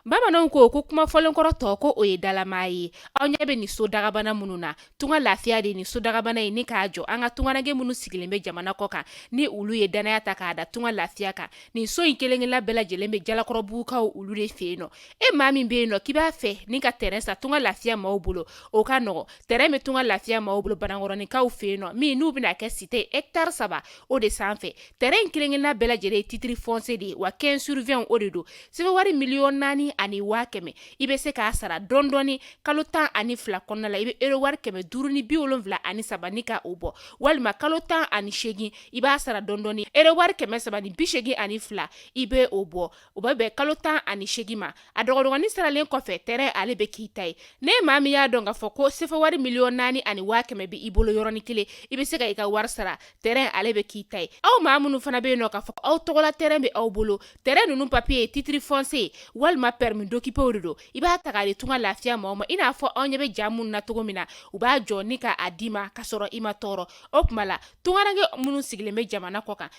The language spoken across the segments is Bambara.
bamananw ko ko kuma fɔlen kɔrɔ tɔgɔ o ye dalama ye aw ɲɛ bɛ nin so dagabana minnu na tunga lafiya de ni so dagabana ye ni k'a jɔ an ka tungarankɛ minnu sigilen bɛ jamana kɔ kan ni olu ye dannaya ta k'a da tunga lafiya kan nin so in kelenkelenna bɛɛ lajɛlen bɛ jalakɔrɔbugukaw olu de fɛ yen nɔ e maa min bɛ yen nɔ k'i b'a fɛ ni ka tɛrɛn san tunga lafiya maaw bolo o ka nɔgɔ tɛrɛn bɛ tunga lafiya maaw bolo banankɔrɔninkaw fɛ yen nɔ min n'u bɛna kɛ site etari saba o de sanfɛ tɛrɛn in kelenkelenna bɛɛ lajɛlen ye titiri fɔnsiye de ye wa quinze sur vingt o de don sefa wari miliyɔn naani ani waa kɛmɛ i bɛ se k'a sara dɔndɔɔni kalo tan ani fila kɔnɔna la i bɛ ero wari kɛmɛ duuru ni bi wolonwula ani saba ni k' o bɔ walima kalo tan ani seegin i b'a sara dɔndɔɔni ero wari kɛmɛ saba ni bi seegin ani fila i bɛ o bɔ o bɛ bɛn kalo tan ani segi ma a dɔgɔdɔgɔnin saralen kɔfɛ tɛrɛn ale bɛ k'i ta ye n'e maa min y'a dɔn k'a fɔ ko sefa wari miliyɔn naani ani waa kɛmɛ bɛ i bolo yɔrɔnin kelen i bɛ se ka i ka wari sara tɛrɛn ale bɛ k'i ta ye aw maa minnu fana bɛ yen nɔ k'a fɔ aw tɔgɔla tɛrɛn bɛ aw bolo tɛrɛn ninnu papiye ye titiri fɔnsiye walima permis d'occuper de don i b'a ta k'a di tunga lafiya maaw ma i n'a fɔ aw ɲɛ bɛ ja minnu na cogo min na u b'a jɔ ni k'a d'i ma ka sɔrɔ i ma tɔɔrɔ o tuma la tungarankɛ minnu sigilen bɛ jamana kɔ kan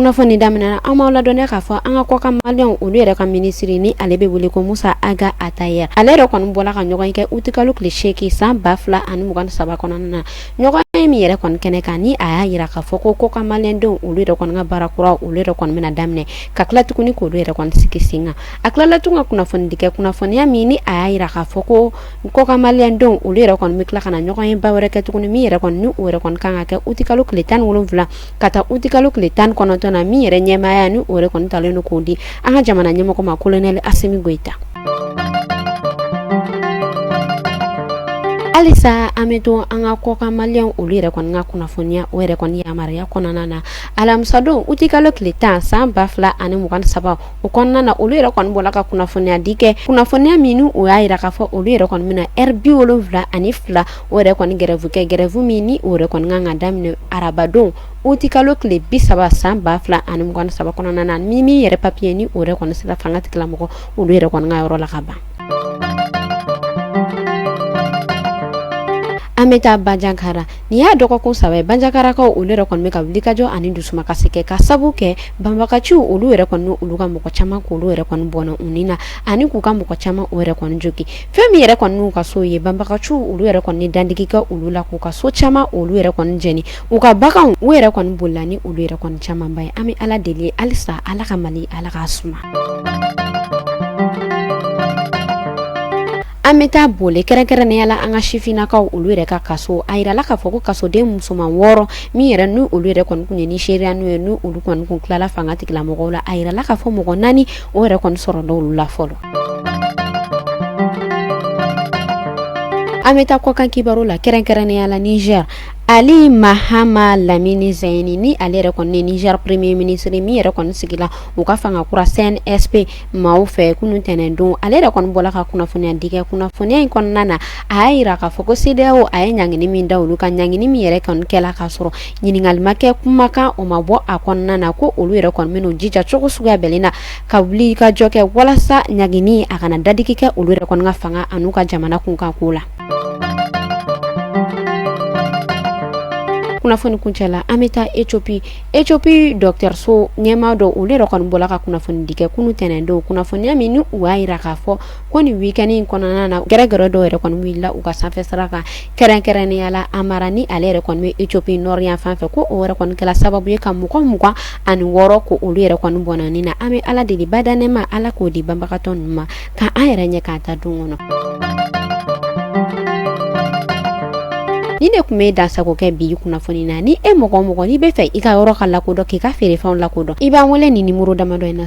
kunnafoni daminɛna an b'aw ladɔnniya k'a fɔ an ka kɔkan maliyɛnw olu yɛrɛ ka minisiri ni ale bɛ wele ko musa aga atayɛr ale yɛrɛ kɔni bɔla ka ɲɔgɔnye kɛ utikalo tile seegin san ba fila ani mugan ni saba kɔnɔna na ɲɔgɔnye min yɛrɛ kɔni kɛnɛ kan ni a y'a yira k'a fɔ ko kɔkan maliyɛndenw olu yɛrɛ kɔni ka baara kura olu yɛrɛ kɔni bɛna daminɛ ka tila tuguni k'olu yɛrɛ kɔni sigi sen kan a tilala tun ka kunnafoni di kɛ kunnafoniya min ni a y'a yira k'a fɔ ko kɔkan maliyɛndenw olu yɛrɛ kɔni bɛ tila ka na ɲɔgɔnyeba wɛrɛ kɛ tuguni min yɛrɛ kɔni ni o yɛrɛ kɔni kan ka kɛ utikalo tile tan ni wolonwula ka taa uti kalo tile tan ni kɔnɔntɔn na min yɛrɛ ɲɛmaaya ni o yɛrɛ kɔni talen don k'o di an ka jamana ɲɛmɔgɔ ma kolonɛli asimi goyita halisa an bɛ to an ka kɔkan maliyɛnw olu yɛrɛ kɔni ka kunnafoniya o yɛrɛ kɔni yamaruya kɔnɔna na alamisadon uti kalo tile tan san ba fila ani mugan saba o kɔnɔna na olu yɛrɛ kɔni bɔla ka kunnafoniya di kɛ kunnafoniya min ni o y'a yira k'a fɔ olu yɛrɛ kɔni bɛna ɛri bi wolonwula ani fila o yɛrɛ kɔni gɛrɛvu kɛ gɛrɛvu min ni o yɛrɛ kɔni kan ka daminɛ arabadon uti kalo tile bi saba san ba fila ani mugan saba kɔnɔna na ni min yɛrɛ papiye ni o yɛrɛ kɔni sera fanga tigilamɔgɔ olu yɛrɛ kɔni ka yɔrɔ la ka ban an bɛ taa banjagara nin y'a dɔgɔkun saba ye banjagarakaw olu yɛrɛ kɔni bɛ ka wulikajɔ ani dusumakasi kɛ ka sabu kɛ banbaganciw olu yɛrɛ kɔni olu ka mɔgɔ caman k' olu yɛrɛ kɔni bɔnɛ u ni na ani k'u ka mɔgɔ caman o yɛrɛ kɔni jogin fɛn min yɛrɛ kɔni n'u ka so ye banbaganciw olu yɛrɛ kɔni dandigi kɛ olu la k'u ka so caman olu yɛrɛ kɔni jɛni u ka baganw u yɛrɛ kɔni bolila ni olu yɛrɛ kɔni camanba ye an bɛ ala deli ye halisa ala ka mali ala k'a suma an bɛ taa bole kɛrɛnkɛrɛnnenya la an ka sifinnakaw olu yɛrɛ ka kaso a yirala k'a fɔ ko kasoden musoman wɔɔrɔ min yɛrɛ n'u olu yɛrɛ kɔni kun ye nizeriyɛnw ye n'u olu kɔni kun tilala fanga tigilamɔgɔw la a yirala k'a fɔ mɔgɔ naani o yɛrɛ kɔni sɔrɔla olu la fɔlɔ an bɛ taa kɔkan kibaru la kɛrɛnkɛrɛnnenya la niger ali mahama lamini zɛyini ni ale yɛrɛ kɔni niger premier ministre min yɛrɛ kɔni sigila u ka fanga kura cnsp maaw fɛ kunu tɛnɛn don ale yɛrɛ kɔni bɔla ka kunnafoniya di kɛ kunnafoniya in kɔnɔna na a y'a yira k'a fɔ ko cedeao a ye ɲangini min da olu kan ɲangini min yɛrɛ kɔni kɛla k'a sɔrɔ ɲininkali ma kɛ kumakan o ma bɔ a kɔnɔna na ko olu yɛrɛ kɔni bɛn'u jija cogo suguya bɛɛ na ka wuli ka jɔ kɛ walasa ɲangini a kana dadigi kɛ olu yɛrɛ kɔni ka fanga an'u ka jamana kunkan ko la kunnafoni kuncɛ la an bɛ taa ethiopie ethiopie dɔgɔtɔrɔso ɲɛmaa dɔ olu yɛrɛ kɔni bɔla ka kunnafoni di kɛ kunu tɛnɛn don kunnafoniya min ni u y'a yira k'a fɔ ko nin week-end in kɔnɔna na gɛrɛgɛrɛ dɔw yɛrɛ kɔni wulila u ka sanfɛ sira kan kɛrɛnkɛrɛnnenya la amhara ni ale yɛrɛ kɔni bɛ ethiopie nord yan fan fɛ ko o yɛrɛ kɔni kɛla sababu ye ka mɔgɔ mugan ani wɔɔrɔ ko olu yɛrɛ kɔni bɔnɛna nin na an bɛ ala deli badaa nɛɛma ala k'o di banbagatɔ ninnu ma k' an yɛrɛ ɲɛ k'a ta don kɔnɔ ni de tun bɛ dansago kɛ bi kunnafoni na ni e mɔgɔ mɔgɔ n'i b'a fɛ i ka yɔrɔ ka lakodɔn k'i ka feerefɛnw lakodɔn i b'an wele nimɔrɔ damadɔ in na